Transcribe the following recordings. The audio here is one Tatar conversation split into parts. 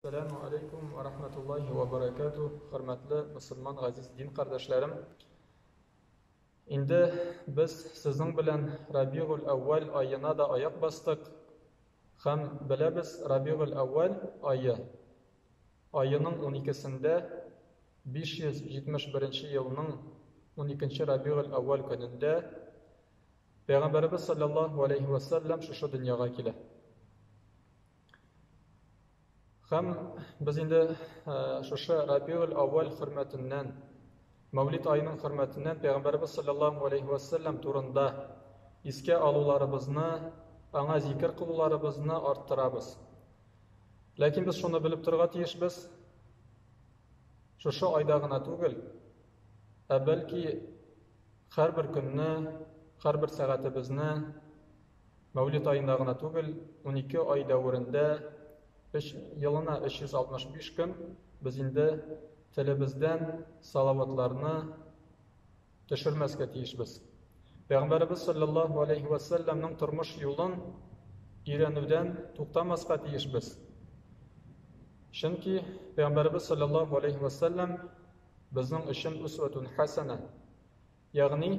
Сәләму алейкум ва рахматуллахи ва баракату. Хөрмәтле мусульман газиз дин кардәшләрем. Инде без сезнең белән Рабигуль әүвәл аена да аяк бастык. Һәм беләбез, Рабигуль әүвәл ае аеның 12-сендә 571 елның 12 Рабигуль әүвәл көнендә Пәйгамбәрбез саллаллаһу алейхи ва саллям шушы дөньяга килә. Һәм без инде шушы Рабиул Аввал хөрмәтеннән, Мәүлид аеның хөрмәтеннән Пәйгамбәрбез саллаллаһу алейхи ва саллям турында искә алуларыбызны, аңа зикер кылуларыбызны арттырабыз. Ләкин без шуны белеп торга тиешбез. Шушы айда гына түгел, ә бәлки һәрбер көнне, һәрбер сәгатебезне Мәүлид аенда гына түгел, унике ай дәверендә, өч, елына 365 көн без инде телебездән салаватларны төшермәскә тиешбез. Пәйгамбәребез саллаллаһу алейһи вә сәлләмнең тормыш юлын өйрәнүдән туктамаска тиешбез. Чөнки Пәйгамбәребез саллаллаһу алейһи вә сәлләм безнең өчен усватун хәсәнә. Ягъни,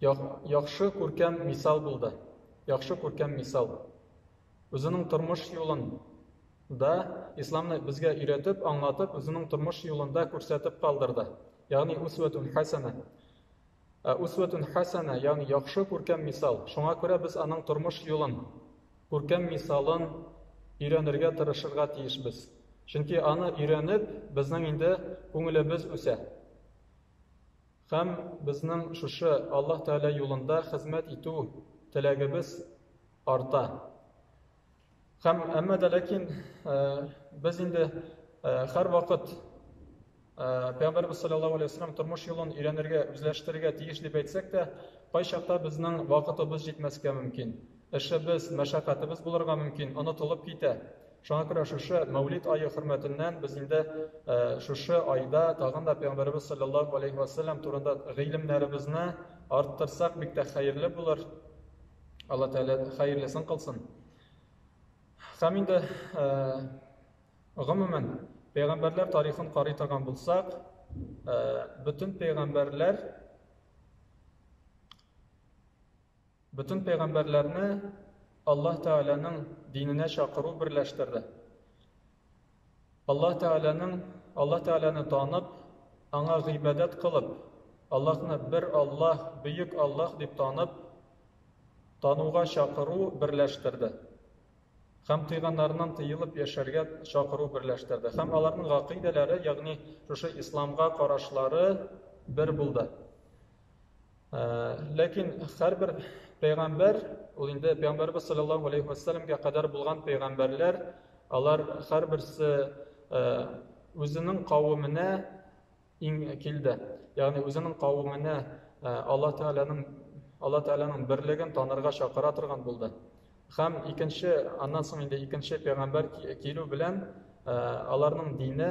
яхшы күркәм мисал булды. Яхшы күркәм мисал. Үзенең тормыш юлын да исламны безгә өйрәтеп, аңлатып, үзенең тормыш юлында күрсәтеп калдырды. Ягъни усватун хасана. Ә усватун хасана, ягъни яхшы күркәм мисал. Шуңа күрә без аның тормыш юлын, күркәм мисалын өйрәнергә тырышырга тиешбез. Чөнки аны өйрәнеп, безнең инде күңелебез үсә. Һәм безнең шушы Аллаһ Тәгалә юлында хезмәт итү теләгебез арта. Һәм әмма дә ләкин без инде һәрвакыт Пәйгамбәрбез саллаллаһу алейһи вәсәлләм тормыш юлын өйрәнергә, үзләштерергә тиеш дип әйтсәк тә, кайчакта безнең вакытыбыз җитмәскә мөмкин. Эшебез, мәшәкатебез булырга мөмкин, онытылып китә. Шуңа күрә шушы Мәүлид ае хөрмәтеннән без инде шушы айда тагын да Пәйгамбәребез салләллаһу алейһи вә сәлләм турында гыйлемнәребезне арттырсак бик тә хәерле булыр. Алла Тәгалә хәерлесен кылсын. Һәм инде гомумән пәйгамбәрләр тарихын карый торган булсак, бөтен пәйгамбәрләр Бөтен пәйгамбәрләрне Аллаһ Тәгаләнең диненә чакыру берләштерде. Аллаһ Тәгаләнең Аллаһ Тәгаләне танып, аңа гыйбадәт кылып, Аллаһны бер Аллаһ, бөек Аллаһ дип танып, тануга чакыру берләштерде. Һәм тыйганнарыннан тыелып яшәргә чакыру берләштерде. Һәм аларның гакыйдәләре, ягъни шушы исламга карашлары бер булды. Ләкин һәрбер пәйгамбәр, ул инде пәйгамбәрбез саллаллаһу алейхи ва саллямга кадәр булган пәйгамбәрләр, алар һәрберсе үзенең кавеменә иң килде. Ягъни үзенең кавеменә Алла Тәгаләнең Алла Тәгаләнең берлеген танырга чакыра торган булды. Хәм икенче, аннан соң инде икенче пәйгамбәр килү белән аларның дине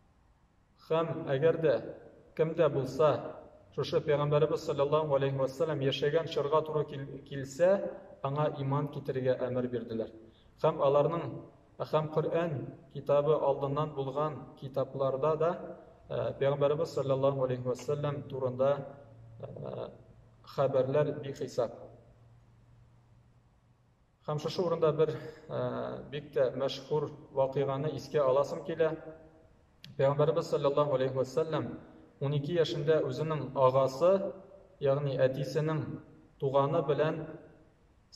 Һәм әгәр дә кем дә булса шушы пәйгамбәребез саллаллаһу алейһи ва саллям яшәгән чорга туры килсә, аңа иман китерергә әмер бирделәр. Һәм аларның һәм Коръән китабы алдыннан булган китапларда да пәйгамбәребез саллаллаһу алейһи ва саллям турында хәбәрләр бихисап. Һәм шушы урында бер бик тә мәшһүр вакыйганы искә аласым килә. Пәйгамбәребез саллаллаһу алейхи ва саллям 12 яшендә үзенең агасы, ягъни әтисенең туганы белән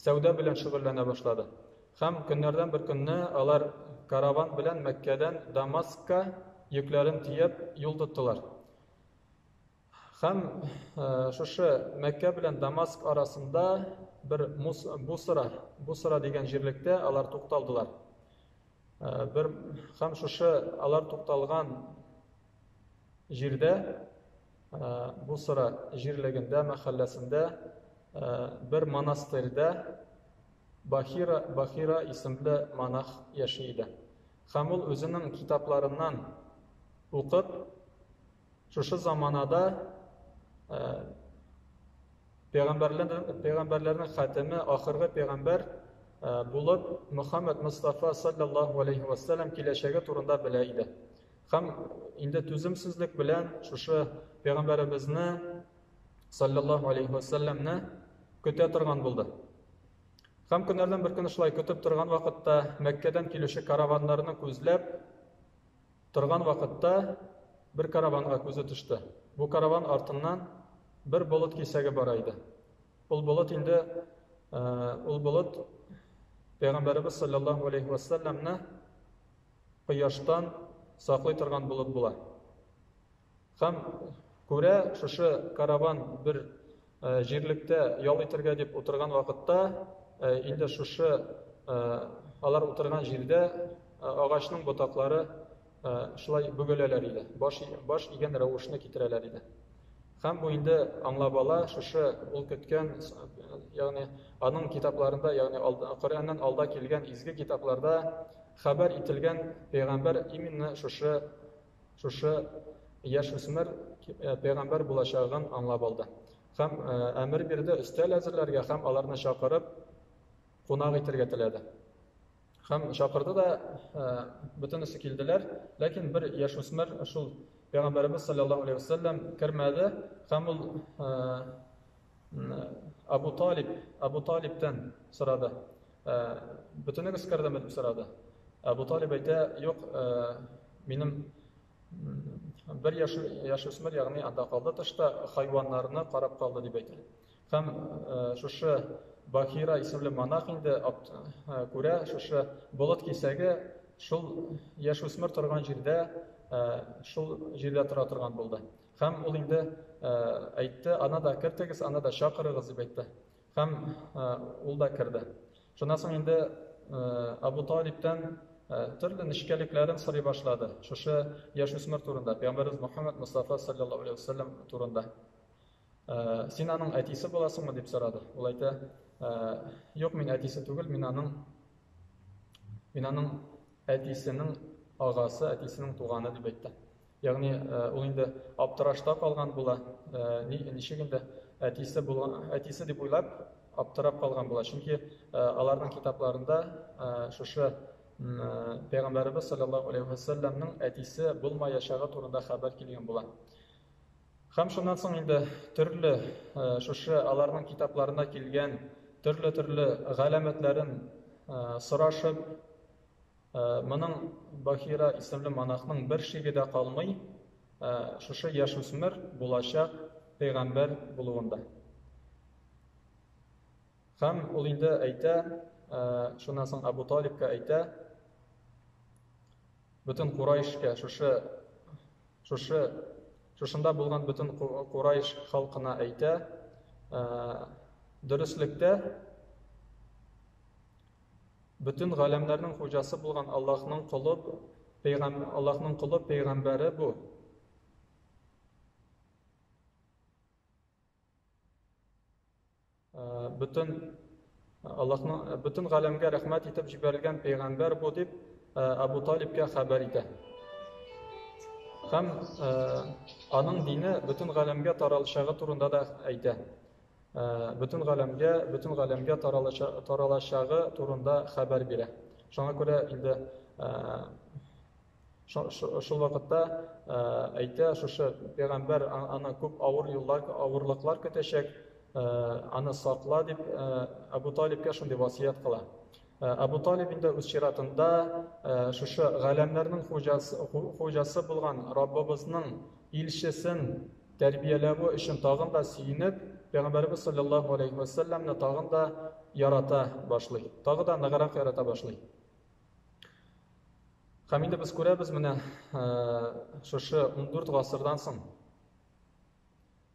сәүдә белән шөгыльләнә башлады. Һәм көннәрдән бер көнне алар караван белән Мәккәдән Дамаскка йөкләрен төяп юл тоттылар. Һәм шушы Мәккә белән Дамаск арасында бер Бусра, Бусра дигән җирлектә алар тукталдылар. Бер һәм шушы алар тукталган җирдә Бусра җирлегендә, мәхәлләсендә бер монастырьда Бахира, Бахира исемле монах яши иде. Һәм ул үзенең китапларыннан укып, Шушы заманада пәйгамбәрләрнең хатеме, ахыргы пәйгамбәр булып Мөхәммәд Мустафа саллаллаһу алейхи ва саллям киләчәге турында белә иде. Һәм инде түземсезлек белән шушы пәйгамбәребезне саллаллаһу алейхи ва саллямны көтә торган булды. Һәм көннәрдән бер көн шулай көтеп торган вакытта Мәккәдән килүче караваннарны күзләп торган вакытта бер караванга күзе төште. Бу караван артыннан бер болыт кисәге бара иде. Ул болыт инде ул болыт Пәйгамбәребез саллаллаху алейхи ва салламны кояштан саклый торган болыт була. Һәм күрә, шушы караван бер җирлектә ял итергә дип утырган вакытта, инде шушы алар утырган җирдә агачның ботаклары шулай бөгеләләр иде, баш, баш игән рәвешне китерәләр иде. Һәм бу инде аңлап ала, шушы ул көткән, ягъни аның китапларында, ягъни Коръәннән алда килгән изге китапларда хәбәр ителгән пәйгамбәр именно шушы Шушы яшь үсмер пәйгамбәр булачагын аңлап алды һәм әмер бирде өстәл әзерләргә һәм аларны чакырып кунак итәргә теләде. Һәм чакырды да бөтенесе килделәр, ләкин бер яшь үсмер шул пәйгамбәребез саллаллаһу алейһи вәсәлләм кермәде һәм ул Абу Талиб, Абу Талибтан сорады. Бөтенегез кирдеме дип сорады. Абу Талиб әйтә, юк, минем бер яш яшүсмер, ягъни анда калды тышта, хайваннарны карап калды дип әйтә. Һәм шушы Бахира исемле монах инде күрә, шушы болыт кисәге шул яшүсмер торган җирдә, шул җирдә тора торган булды. Һәм ул инде әйтте, аны да кертегез, аны да чакырыгыз, дип әйтте. Һәм ул да керде. Шуннан соң инде Абу Талибтан төрле нечкәлекләрен сорый башлады. Шушы яшүсмер турында, Пәйгамбәрбез Мухаммад Мустафа саллаллаху алейхи вассалам турында. Син аның әтисе буласыңмы дип сорады. Ул әйтә, юк, мин әтисе түгел, мин аның мин аның әтисенең агасы, әтисенең туганы дип әйтте. Ягъни ул инде аптырашта калган була, ничек инде әтисе булган, әтисе дип уйлап, аптырап калган була. Чөнки аларның китапларында шушы Пәйгамбәребез саллаллаһу алейхи ва саллямның әтисе булмаячагы турында хәбәр килгән була. Хәм шуннан соң инде төрле шушы аларның китапларына килгән төрле-төрле галәмәтләрен сорашып, Моның Бахира исемле монахның бер шиге дә калмый, шушы яшүсмер булачак пәйгамбәр булуында. Һәм ул инде әйтә, шуннан соң Абу Талибка әйтә, бөтен Курайшка, шушы шушы шушында булган бөтен Курайш халкына әйтә, дөреслектә Бөтен галәмнәрнең хуҗасы булган Аллаһның колы, пәйгам, Аллаһның колы пәйгамбәре бу. Э, бөтен Аллаһның э, бөтен галәмгә рәхмәт итеп җибәрелгән пәйгамбәр бу дип э, Абу Талибкә хәбәр итә. Һәм э, аның дине бөтен галәмгә таралышагы турында да әйтә. бөтен галәмгә, бөтен галәмгә таралачагы турында хәбәр бирә. Шуңа күрә инде шул вакытта әйтә, шушы пәйгамбәр аны күп авыр юллар, авырлыклар көтәчәк, аны сакла дип Абу Талибкә шундый васыять кыла. Абу Талиб инде үз чиратында шушы галәмнәрнең хуҗасы, хуҗасы булган Раббыбызның илчесен тәрбияләве өчен тагын да сөенеп, Пәйгамбәребез салләллаһу алейһи вә сәлләмне тагын да ярата башлый, тагы да ныграк ярата башлый. Һәм инде без күрәбез менә шушы 14 гасырдан соң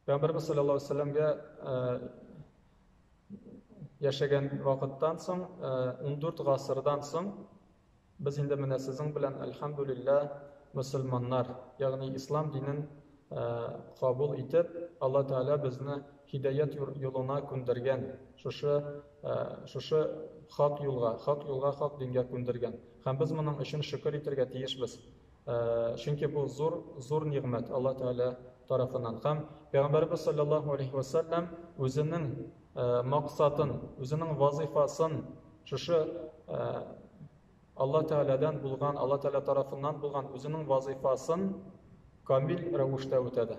Пәйгамбәребез салләллаһу алейһи вә сәлләмгә яшәгән вакыттан соң, 14 гасырдан соң Без инде менә сезнең белән, әлхәмдүлилләһ, мөселманнар, ягъни ислам динен кабул итеп, Алла Тәгалә безне һидаять юлына күндергән, шушы шушы хак юлга, хак юлга, хак дингә күндергән. Һәм без моның өчен шөкер итергә тиешбез. Чөнки бу зур, зур нигъмәт Алла Тәгалә тарафыннан. Һәм Пәйгамбәрбез саллаллаһу алейхи ва саллям үзенең максатын, үзенең вазифасын шушы Алла Тәгаләдән булган, Алла Тәгалә тарафыннан булган үзенең вазифасын камил рәвештә үтәде.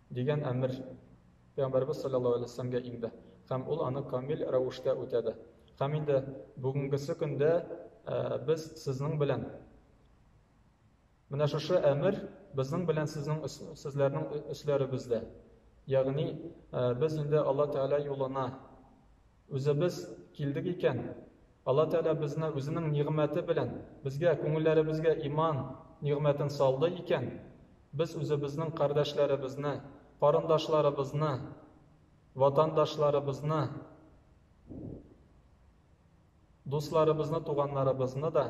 Дигән әмер Пәйгамбәребез салләллаһу галәйһи ва сәлләмгә инде һәм ул аны камил рәвештә үтәде. Һәм инде бүгенгесе көндә без сезнең белән Менә шушы әмер безнең белән сезнең сезләрнең өсләребездә. Ягъни без инде Алла Тәгалә юлына Үзебез килдек икән, Алла Тәгалә безне Үзенең нигъмәте белән, безгә, күңелләребезгә иман нигъмәтен салды икән, без үзебезнең кардәшләребезне, карындашларыбызны, ватандашларыбызны, дусларыбызны, туганнарыбызны да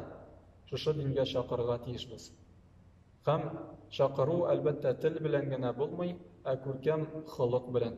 шушы дингә чакырырга тиешбез. Һәм чакыру, әлбәттә, тел белән генә булмый, ә күркәм холык белән.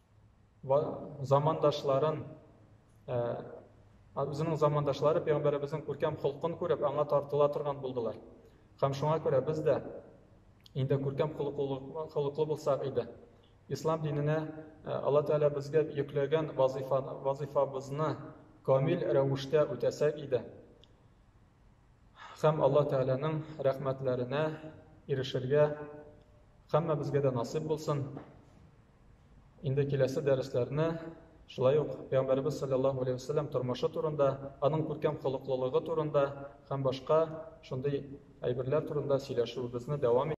замандашларын үзенең замандашлары пәйгамбәребезнең күркәм холкын күреп аңа тартыла торган булдылар һәм шуңа күрә без дә инде күркәм холыклы булсак иде ислам диненә алла тәгалә безгә йөкләгән вазифабызны камил рәвештә үтәсәк иде һәм алла тәгаләнең рәхмәтләренә ирешергә һәммәбезгә дә насыйп булсын Инде киләсе дәресләрне шулай ук Пәйгамбәребез саллаллаһу алейһи вәсәлләм тормышы турында, аның күркәм холыклылыгы турында һәм башка шундый әйберләр турында сөйләшүебезне дәвам